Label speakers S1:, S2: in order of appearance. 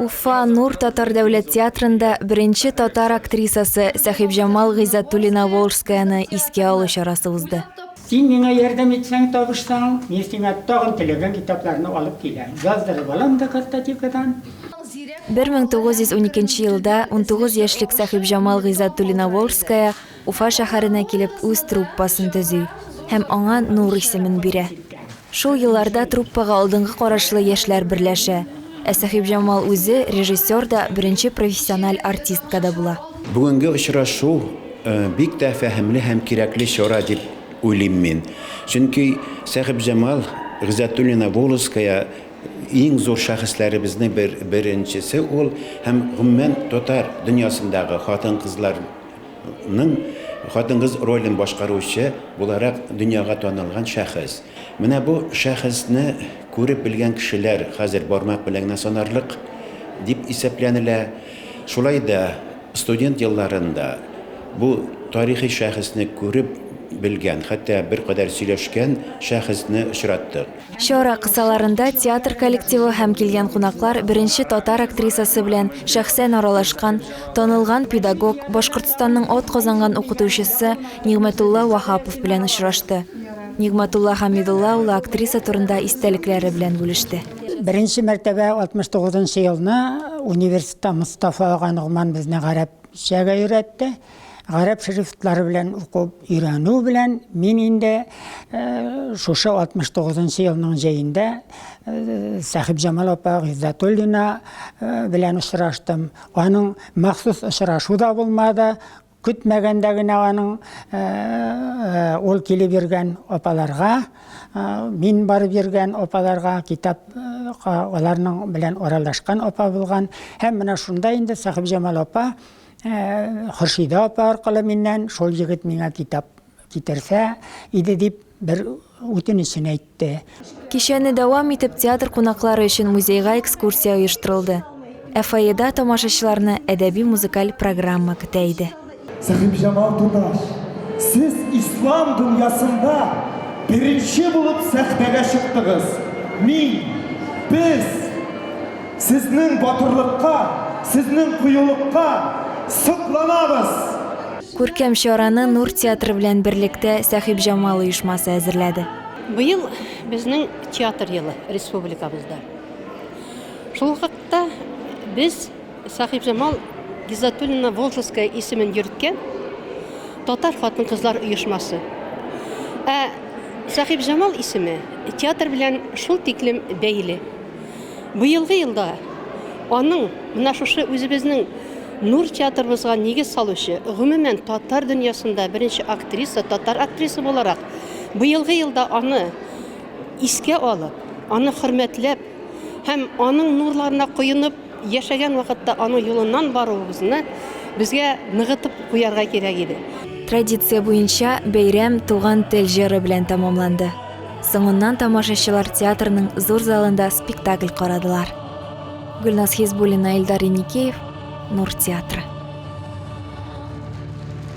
S1: Уфа Нур татар дәүләт театрында беренче татар актрисасы Сәхибҗамал Гыйззәтуллина Волжскаяны искә алу чарасы узды. Син миңа ярдәм
S2: итсәң, табышсаң, мин сиңа тагын теләгән китапларны алып киләм. Яздырып алам да картотекадан.
S1: 1912 елда унтугыз яшьлек Сәхибҗамал Гыйззәтуллина Волжская Уфа шәһәренә килеп үз труппасын төзи һәм аңа Нур исемен бирә. Шул елларда труппага алдынгы карашлы яшьләр берләшә. Ә Сәхибҗамал үзе режиссер да, беренче профессиональ артистка да була. Бүгенге очрашу
S3: бик тә фәһемле һәм кирәкле чара дип уйлыйм мин. Чөнки Сәхибҗамал Гыйззәтуллина Волоская иң зур шәхесләребезнең беренчесе ул һәм гомумән татар дөньясындагы хатын-кызлар ның хатын-кыз ролен башкаручы буларак дөньяга танылган шәхес. Менә бу шәхесне күреп белгән кешеләр хәзер бармак белән генә санарлык дип исәпләнелә. Шулай да студент елларында бу тарихи шәхесне күреп белгән, хәтта беркадәр сөйләшкән шәхесне очраттык. Чара кысаларында
S1: театр коллективы һәм килгән кунаклар беренче татар актрисасы белән шәхсән аралашкан танылган педагог, Башкортстанның атказанган укытучысы Нигъмәтулла Ваһапов белән очрашты. Нигъмәтулла Хәмидулла улы актриса турында истәлекләре белән бүлеште. Беренче мәртәбә
S2: 69 нчы елны университетта Мостафа ага Ногман безне гарәпчәгә өйрәтте. Гарәп шрифтлары белән укып өйрәнү белән мин инде шушы 69 нчы елның җәендә Сәхибҗамал апа Гыйззәтуллина белән очраштым. Аның махсус очрашу да булмады, көтмәгәндә генә аның э, э, ул килеп йөргән апаларга э, мин барып йөргән апаларга китап аларның белән аралашкан апа булган һәм менә шунда инде сәхибҗамал апа Хөршидә апа аркылы миннән шул егет миңа китап китерсә иде дип бер үтенечен әйтте. Кичәне дәвам
S1: итеп театр кунаклары өчен музейга экскурсия оештырылды. Ә фойеда тамашачыларны әдәби-музыкаль программа көтә иде. Сәхибҗамал
S4: туташ, сез ислам дөньясында беренче булып сәхнәгә чыктыгыз. Мин, без. Сезнең батырлыкка, сезнең кыюлыкка сокланабыз!
S1: Күркәм чараны Нур театры белән берлектә Сәхибҗамал оешмасы әзерләде. Быел
S5: безнең театр елы республикабызда. Шул хакта без Сәхибҗамал Гизатуллина Волжская исемен йөрткән татар хатын-кызлар оешмасы. Ә Сәхибҗамал исеме театр белән шул тиклем бәйле. Быелгы елда аның менә шушы үзебезнең Нур театрыбызга нигез салучы, гомумән татар дөньясында беренче актриса, татар актриса буларак, быелгы елда аны искә алып, аны хөрмәтләп һәм аның нурларына коенып яшәгән вакытта аның юлыннан баруыбызны безгә ныгытып куярга кирәк иде. Традиция
S1: буенча бәйрәм Туган тел җыры белән тәмамланды. Соңыннан тамашачылар театрның зур залында спектакль карадылар. Гөлназ Хизбуллина, Илдар Иникеев, Нур театры.